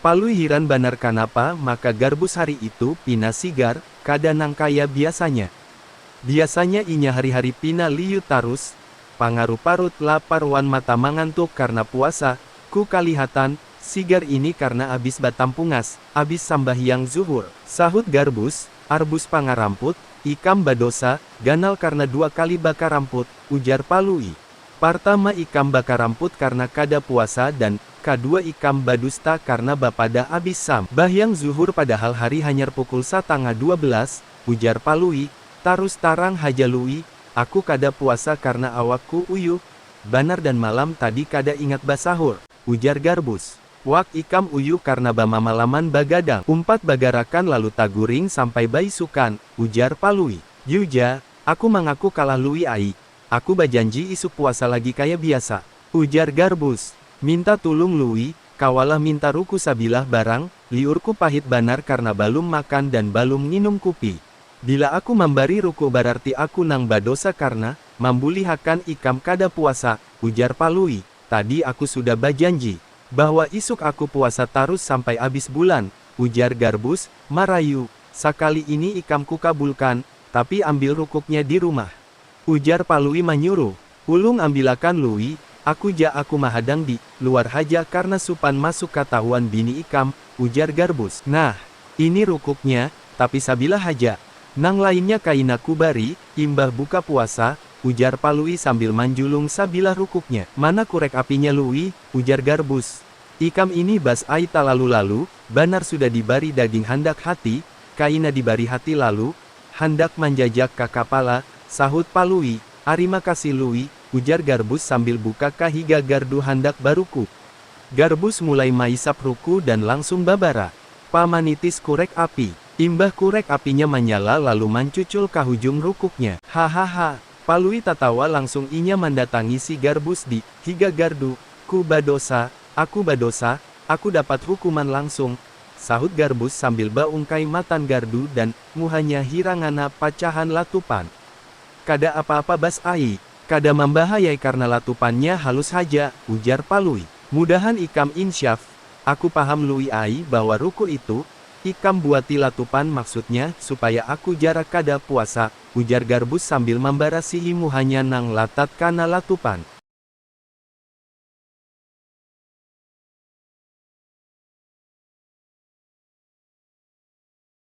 Palui hiran banar kanapa maka Garbus hari itu pina sigar, kada nang kaya biasanya. Biasanya inya hari-hari pina liyut tarus, pangaruh parut lapar wan mata mangantuk karna puasa, ku kalihatan, sigar ini karna abis batampungas, abis sambahyang zuhur. Sahut Garbus, Arbus pangaramput, ikam badosa, ganal karna dua kali bakaramput, ujar Palui. Partama ikam bakaramput karna kada puasa dan, kadua ikam badusta karna bapadah abis sam bahyang zuhur padahal hari hanyar pukul satangah dua belas, ujar Palui, tarus tarang haja Lui, aku kada puasa karna awakku uyuh banar dan malam tadi kada ingat basahur, ujar Garbus, wak ikam uyuh karna bamamalaman bagadang, umpat bagarakan lalu taguring sampai baisukan, ujar Palui. Yu ja, aku mangaku kalah Lui ai, Aku bajanji isuk puasa lagi kaya biasa. Ujar Garbus. Minta tulung Lui, kawalah minta ruku sabilah barang, liurku pahit banar karna balum makan dan balum nginum kupi. Bila aku mambari ruku bararti aku nang badosa karna, mambulihakan ikam kada puasa, ujar Palui. Tadi aku sudah bajanji, bahwa isuk aku puasa tarus sampai abis bulan, ujar Garbus, marayu. Sakali ini ikam kukabulkan, tapi ambil rukuknya di rumah. Ujar Palui manyuruh, Ulung ambilakan Lui, aku ja aku mahadang di, luar haja karna supan masuk katahuan bini ikam, ujar Garbus. Nah, ini rukuknya, tapi sabilah haja, nang lainnya kaina kubari, imbah buka puasa, ujar Palui sambil manjulung sabilah rukuknya. Mana kurek apinya Lui, ujar Garbus. Ikam ini Bas ai talalu-lalu, banar sudah dibari daging handak hati, kaina dibari hati lalu, Handak manjajak ka kapala, sahut Palui. Arima kasih Lui, ujar Garbus sambil buka ka higa gardu handak baruku. Garbus mulai maisap ruku dan langsung babara. Pa manitis kurek api. Imbah kurek apinya manyala lalu mancucul ka hujung rukuknya. Hahaha. Palui tatawa langsung inya mandatangi si Garbus di, higa gardu. Ku badosa, aku badosa, aku dapat hukuman langsung, sahut Garbus sambil ba ungkai matan gardu dan Muhanya hirang hanap pacahan latupan. Kada apa-apa Bas ai, kada mambahayai karna latupannya halus haja, ujar Palui. Mudahan ikam insyaf, aku paham Lui ai bahwa ruku itu, ikam buati latupan maksudnya supaya aku jarak kada puasa, ujar Garbus sambil mambarasihi muhanya nang latat kana latupan.